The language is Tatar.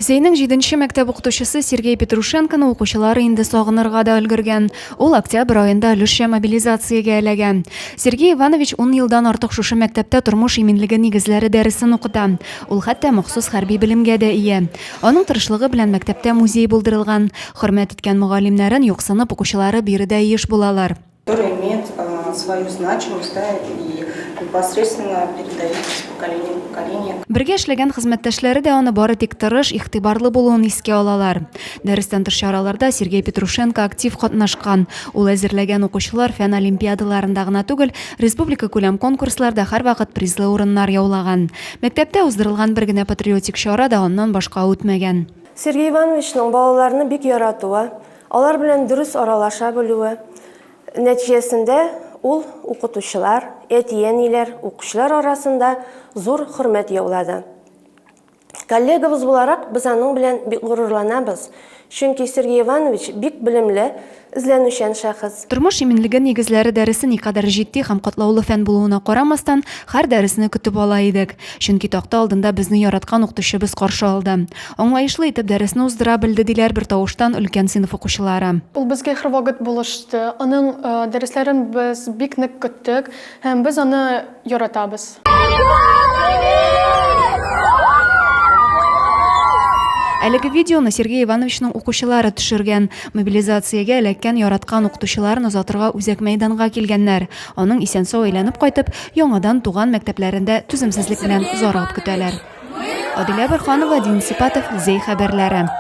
Зәйнең җиденче мәктәп укытучысы Сергей Петрушенконы укучылары инде сагынырга да өлгергән. Ул октябрь аенда өлешчә мобилизациягә эләгә. Сергей Иванович ун елдан артык шушы мәктәптә тормыш иминлеге нигезләре дәресен укыта. Ул хәтта махсус хәрби белемгә дә ия. Аның тырышлыгы белән мәктәптә музей булдырылган. Хөрмәт иткән мөгаллимнәрен юксынып укучылары биредә еш булалар. Которая имеет свою значимость, да, и непосредственно передается с поколения в поколение. Бергә эшләгән хезмәттәшләре дә аны бары тик тырыш, игътибарлы булуын искә алалар. Дәрестән тыш чараларда Сергей Петрушенко актив катнашкан. Ул әзерләгән укучылар фән олимпиадаларында гына түгел, республика күләм конкурсларда һәрвакыт призлы урыннар яулаган. Мәктәптә уздырылган бер генә патриотик чара да аннан башка үтмәгән. Сергей Ивановичның балаларны бик яратуы, Алар белән дөрес аралаша белүе нәтиҗәсендә ул укытучылар, әти-әниләр, укучылар арасында зур хөрмәт яулады. Коллегабыз буларак без аның белән бик горурланабыз, чөнки Сергей Иванович бик белемле, эзләнүчән шәхес. Тормыш иминлеге нигезләре дәресе никадәр җитди һәм катлаулы фән булуына карамастан, һәр дәресне көтеп ала идек, чөнки такта алдында безне яраткан укытучыбыз каршы алды. Аңлаешлы итеп дәресне уздыра белде, диләр бертавыштан өлкән сыйныф укучылары. Ул безгә һәрвакыт булышты, аның дәресләрен без бик нык көттек һәм без аны яратабыз. Әлеге видеоны Сергей Ивановичның укучылары төшергән. Мобилизациягә эләккән яраткан укытучыларын озатырга үзәк мәйданга килгәннәр. Аның исән-сау әйләнеп кайтып, яңадан туган мәктәпләрендә түземсезлек белән зарлап көтәләр. Адилә Борханова, Дин Сипатов, Зәй хәбәрләре.